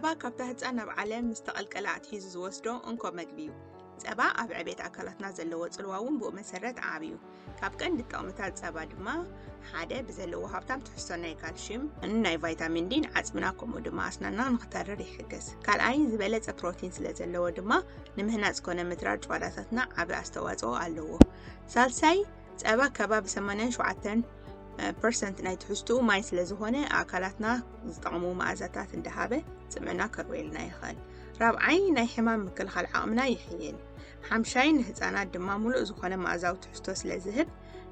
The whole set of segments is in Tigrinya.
ጸባ ካብታ ህፃን ናብ ዓለም ምስ ተቐልቀለ ኣትሒዙ ዝወስዶ እንኮ መግቢ እዩ። ጸባ ኣብ ዕቤት ኣካላትና ዘለዎ ጽልዋ እውን ብኡ መሰረት ዓብዩ። ካብ ቀንዲ ጥቕምታት ጸባ ድማ ሓደ ብዘለዎ ሃብታም ትሕዝቶ ናይ ካልሽየም ናይ ቫይታሚን ዲን ዓፅምና ከምኡ ድማ ኣስናና ንክተርር ይሕግዝ ካልኣይ ዝበለፀ ፕሮቲን ስለ ዘለዎ ድማ ንምህናፅ ኮነ ምትራር ጨዋዳታትና ዓበ ኣስተዋፅኦ ኣለዎ ሳልሳይ ፀባ ከባቢ 87 ፐርሰንት ናይ ትሕዝትኡ ማይ ስለ ዝኾነ ኣካላትና ዝጠቕሙ መኣዛታት እንዳሃበ ፅምዕና ከርበየልና ይኽእል ራብዓይ ናይ ሕማም ምክልኻል ዓቕምና ይሕይል ሓምሻይ ንህፃናት ድማ ሙሉእ ዝኾነ መኣዛዊ ትሕዝቶ ስለ ዝህብ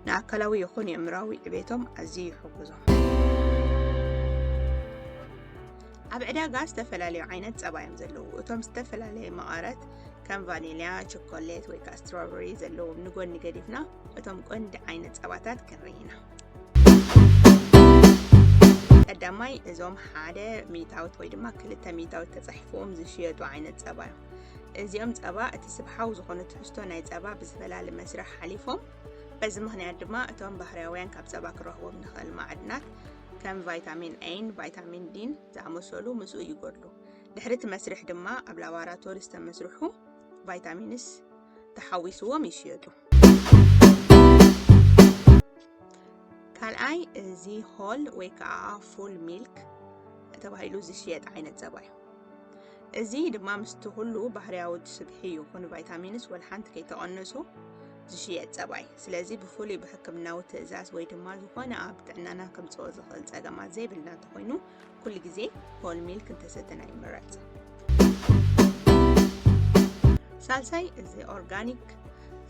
ንኣካላዊ ይኹን የእምራዊ ዕቤቶም ኣዝዩ ይሕግዞም። ኣብ ዕዳጋ ዝተፈላለዩ ዓይነት ጸባ እዮም ዘለዉ። እቶም ዝተፈላለየ መቐረት ከም ቫኒልያ፣ ቸኮሌት ወይ ከዓ ስትሮበሪ ዘለዎም ንጎኒ ገዲፍና እቶም ቀንዲ ዓይነት ጸባታት ክንርኢ ኢና። ቀዳማይ እዞም ሓደ ሚእታዊት ወይ ድማ ክልተ ሚእታዊት ተጻሒፎም ዝሽየጡ ዓይነት ጸባ እዮም። እዚኦም ጸባ እቲ ስብሓዊ ዝኾነ ትሕዝቶ ናይ ጸባ ብዝፈላሊ መስርሕ ሓሊፎም በዚ ምክንያት ድማ እቶም ባህርያውያን ካብ ጸባ ክረኽቦም ንኽእል ማዕድናት ከም ቫይታሚን ኤን ቫይታሚን ዲን ዝኣመሰሉ ምስኡ ይጎድሉ ድሕሪ እቲ መስርሕ ድማ ኣብ ላቦራቶሪ ዝተመስርሑ ቫይታሚንስ ተሓዊስዎም ይሽየጡ ካልኣይ እዚ ሆል ወይ ከዓ ፉል ሚልክ ተባሂሉ ዝሽየጥ ዓይነት ጸባ እዩ እዚ ድማ ምስቲ ኩሉ ባህርያዊ ስብሒ ይኹን ቫይታሚንስ ወልሓንቲ ከይተቐነሱ ዝሽየጥ ጸባይ ስለዚ ብፍሉይ ብሕክምናዊ ትእዛዝ ወይ ድማ ዝኾነ ኣብ ጥዕናና ከምጽኦ ዝኽእል ጸገማት ዘይብልና እንተኾይኑ ኩሉ ግዜ ሆል ሚልክ እንተሰተና ይምረጽ ሳልሳይ እዚ ኦርጋኒክ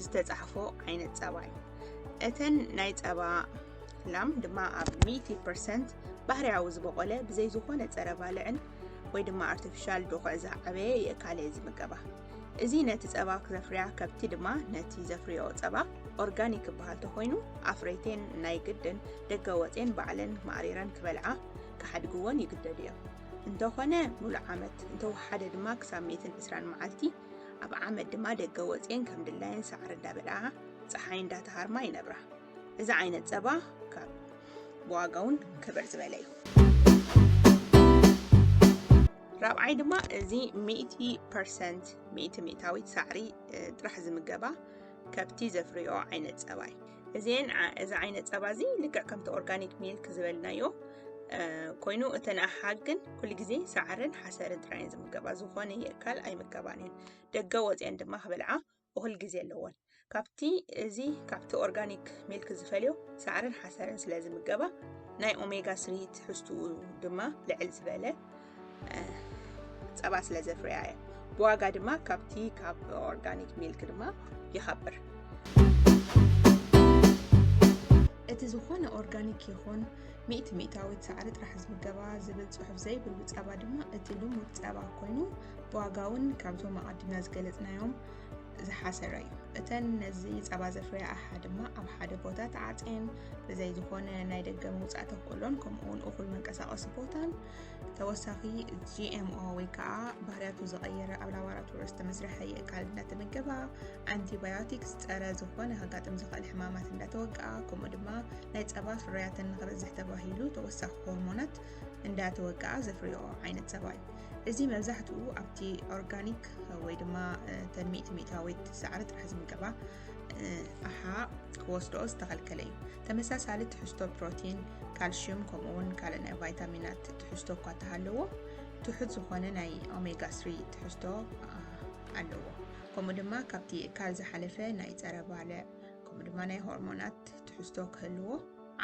ዝተጻሕፎ ዓይነት ጸባ እዩ እተን ናይ ጸባ ላም ድማ ኣብ 100 ፐርሰንት ባህርያዊ ዝበቆለ ብዘይ ዝኾነ ጸረ ባልዕን ወይ ድማ ኣርቲፊሻል ዶኽዕ ዝዓበየ የእካለ እዩ ዝምገባ እዚ ነቲ ጸባ ዘፍርያ ከብቲ ድማ ነቲ ዘፍርዮ ጸባ ኦርጋኒክ ይበሃል ተኮይኑ ኣፍረይቴን ናይ ግድን ደገ ወፅን ባዕለን ማዕሪረን ክበልዓ ክሓድግዎን ይግደዱ እዮም እንተኾነ ሙሉእ ዓመት እንተወሓደ ድማ ክሳብ 120 መዓልቲ ኣብ ዓመት ድማ ደገ ወፅን ከም ድላየን ሳዕሪ እንዳበልዓ ፀሓይ እንዳተሃርማ ይነብራ እዚ ዓይነት ፀባ ካብ ብዋጋውን ክብር ዝበለ እዩ ራብዓይ ድማ እዚ ሚእቲ ፐርሰንት ሚእቲ ሚእታዊት ሳዕሪ ጥራሕ ዝምገባ ከብቲ ዘፍርዮ ዓይነት ፀባ እዩ እዚን እዚ ዓይነት ፀባ እዚ ልክዕ ከምቲ ኦርጋኒክ ሚልክ ዝበልናዮ ኮይኑ እተን ኣሓግ ግን ኩሉ ግዜ ሳዕርን ሓሰርን ጥራይን ዝምገባ ዝኾነ የካል ኣይምገባን እየን ደገ ወፅአን ድማ ክበልዓ እኹል ግዜ ኣለዎን ካብቲ እዚ ካብቲ ኦርጋኒክ ሚልክ ዝፈልዮ ሳዕርን ሓሰርን ስለ ዝምገባ ናይ ኦሜጋ ስሪ ትሕዝትኡ ድማ ልዕል ዝበለ ፀባ ስለ ዘፍርያ እየ ብዋጋ ድማ ካብቲ ካብ ኦርጋኒክ ሚልክ ድማ ይኸብር እቲ ዝኾነ ኦርጋኒክ ይኹን ሚእቲ ሚእታዊት ሳዕሪ ጥራሕ ዝምገባ ዝብል ፅሑፍ ዘይብሉ ፀባ ድማ እቲ ልሙድ ፀባ ኮይኑ ብዋጋ እውን ካብዞም ኣቐዲምና ዝገለፅናዮም ዝሓሰረ እዩ እተን ነዚ ፀባ ዘፍርያ ኣሓ ድማ ኣብ ሓደ ቦታ ተዓፅየን ብዘይ ዝኾነ ናይ ደገ ምውፃእ ተኽእሎን ከምኡውን እኹል መንቀሳቐሲ ቦታን ተወሳኺ ጂኤምኦ ወይ ከዓ ባህርያቱ ዝቐየረ ኣብ ላቦራቶሪ ዝተመስርሐ የእካል እንዳተመገባ ኣንቲባዮቲክስ ፀረ ዝኾነ ከጋጥም ዝኽእል ሕማማት እንዳተወቅኣ ከምኡ ድማ ናይ ፀባ ፍርያተን ንክበዝሕ ተባሂሉ ተወሳኺ ሆርሞናት እንዳተወቅኣ ዘፍርዮ ዓይነት ፀባ እዩ እዚ መብዛሕትኡ ኣብቲ ኦርጋኒክ ወይ ድማ እተን ሚእቲ ሚእታዊት ሳዕሪ ጥራሕ ዝምገባ ኣሓ ክወስድኦ ዝተኸልከለ እዩ ተመሳሳሊ ትሕዝቶ ፕሮቲን ካልሽዩም ከምኡ እውን ካልእ ናይ ቫይታሚናት ትሕዝቶ እኳ እንተሃለዎ ትሑት ዝኾነ ናይ ኦሜጋ 3 ትሕዝቶ ኣለዎ ከምኡ ድማ ካብቲ እካል ዝሓለፈ ናይ ፀረ ባልዕ ከምኡ ድማ ናይ ሆርሞናት ትሕዝቶ ክህልዎ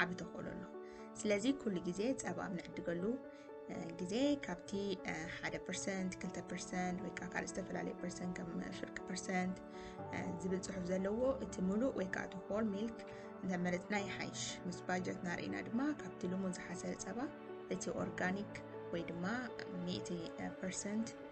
ዓብ ተኽእሎ ኣሎ ስለዚ ኩሉ ግዜ ፀባ ኣብ ንዕድገሉ ግዜ ካብቲ ሓደ ፐርሰንት ክልተ ፐርሰንት ወይ ከዓ ካልእ ዝተፈላለየ ፐርሰንት ከም ፍርቂ ፐርሰንት ዝብል ፅሑፍ ዘለዎ እቲ ሙሉእ ወይ ከዓ እቲ ሆል ሚልክ እንተመረፅና ይሓይሽ ምስ ባጀት ናርእና ድማ ካብቲ ልሙን ዝሓሰረ ፀባ እቲ ኦርጋኒክ ወይ ድማ ሚእቲ ፐርሰንት